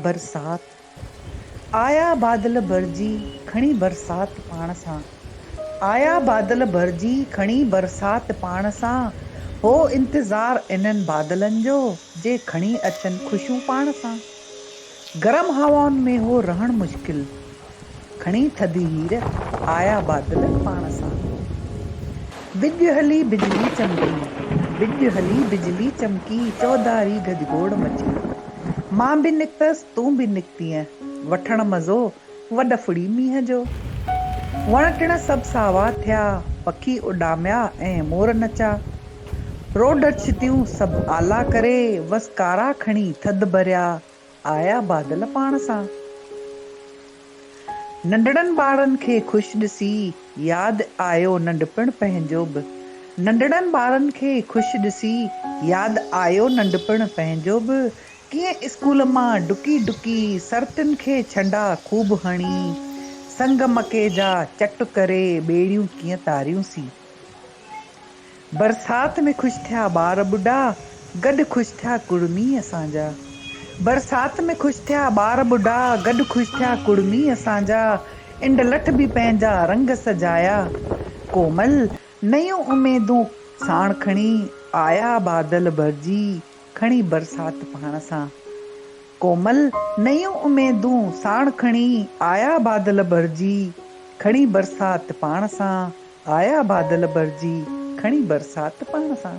برسات آيا بادل ڀرجي کڻي برسات پاڻ سان آيا بادل ڀرجي کڻي برسات پاڻ سان هو انتظار انهن بادلن جو جي کڻي اچن خوشيون پاڻ سان گرم هوائن ۾ هو رهڻ مشڪل کڻي ٿڌي هير، آيا بادل پاڻ سان. وڄ هلي بجلي چمڪي، وڄ هلي بجلي چمڪي، چوڌاري گجگوڙ مچي. مان به نڪتس، تون به نڪتينء، وٺڻ مزو، وڏ ڦڙي مينهن جو. وڻ ٽڻ سڀ ساوا ٿيا، پکي اڏاميا ۽ مور نچا. روڍ ڇتيون سڀ آلا ڪري، وس ڪارا کڻي ٿڌ ڀريا. آيا بادل پاڻ سان. ننڍڙن ٻارن کي خوش ڏسي ياد آيو ننڍپڻ پنهنجو به ننڍڙن ٻارن کي خوش ڏسي ياد آيو ننڍپڻ پنهنجو به ڪيئن اسڪول مان ڊڪي ڊڪي سرتين کي ڇنڊا خوب هڻي سنگ مڪي جا چٽ ڪري ٻيڙيون ڪيئن تاريون سين. برسات ۾ خوش ٿيا ٻار ٻڍا، گڏ خوش ٿيا ڪڙمي اسان جا. برسات ۾ خوش ٿيا ٻار ٻڍا، گڏ خوش ٿيا ڪڙمي اسان جا. انڊ لٺ به پنهنجا رنگ سجايا، ڪومل نيون اميدون ساڻ کڻي آيا بادل ڀرجي کڻي برسات پاڻ سان. ڪومل نيون اميدون ساڻ کڻي آيا بادل ڀرجي کڻي برسات پاڻ سان. آيا بادل ڀرجي کڻي برسات پاڻ سان.